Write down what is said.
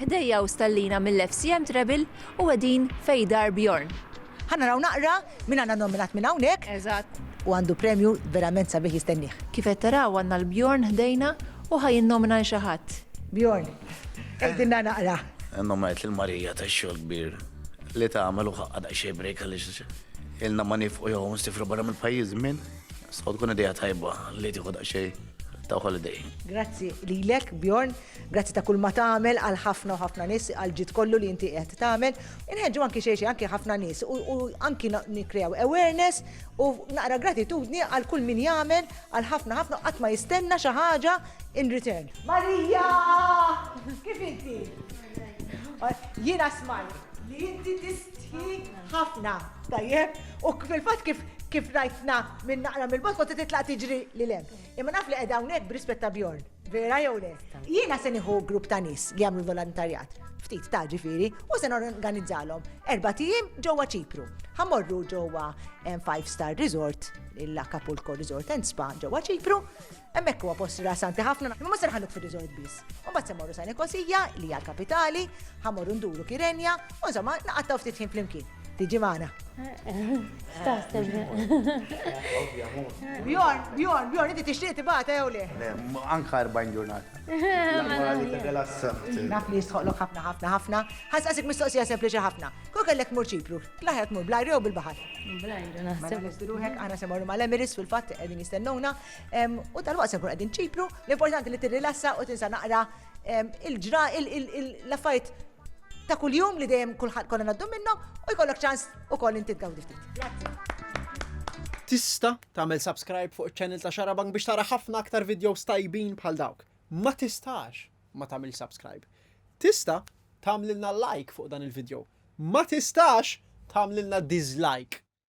Ħdejja u stallina mill-FCM Trebil u qegħdin Fejdar Bjorn. Ħanna raw naqra min għandna nominat minn hawnhekk. Eżatt. U għandu premju verament sabiħ jistennih. Kif qed taraw għandna l-Bjorn ħdejna u ħa jinnomina lil xi ħadd. Bjorn, għidilna naqra. Innominajt lil Marija tax-xogħol kbir li tagħmel u ħaqqha daqsxejn break għaliex ilna ma nifqu jew nsifru barra mill-pajjiż żmien. So tkun idea tajba li tieħu daqsxejn ta' holiday. Grazzi lilek Bjorn, grazzi ta' kull ma tagħmel għal ħafna u ħafna nies għal ġid kollu li inti qed tagħmel. Inħeġġu anki xejn anki ħafna nies u anki nikkrew awareness u naqra gratitudni għal kull min jagħmel għal ħafna ħafna qatt ma jistenna xi ħaġa in return. Marija! Kif inti? Jiena smajt li inti tistħi Ħafna, tajjeb, u fil-fatt kif kif rajtna minn naqra mill-bot kont titlaq tiġri li lem. Imma naf li qiegħda hawnhekk brispetta Bjorn. Vera jew le? Jiena se nieħu grupp ta' nies li jagħmlu volontarjat, ftit ta' ġifieri, u se norganizzalhom erba' tiem ġewwa Ċipru. Ħamorru ġewwa Five Star Resort, l-Acapulco Resort and Spa ġewwa Ċipru, Hemmhekk huwa post rilassanti ħafna, imma ma se nħalluk fir-resort biss. Imbagħad se morru sa Nikosija, li hija l-kapitali, ħa morru nduru Kirenja, u insomma naqattaw ftit ħin flimkien. Tiġi magħna. Staħseb. Bjorn, Bjorn, Bjorn, inti tixtieq tibgħata jew le? Anka 40 ġurnata. Naf li jistħoqlok ħafna ħafna ħafna. Ħasqasik mistoqsija sempliċi ħafna. Kol kellek mur ċipru, laħjat mur blajri u bil-baħar. Blajri, naħseb. Mela, ruħek għana se morru mal-Emiris fil-fatt qegħdin jistennuna. U tal-waqt se nkun qegħdin ċipru, l-importanti li tirrilassa u tinsa naqra il-ġra l-affajt ta' kuljum li dejjem kulħadd konna naddu minnhom u jkollok ċans ukoll inti tgawdi ftit. Tista tagħmel subscribe fuq iċ-channel ta' Xarabank biex tara ħafna aktar videos tajbin bħal dawk. Ma tistax ma tagħmel subscribe. Tista tagħmlilna like fuq dan il-video. Ma tistax tagħmlilna dislike.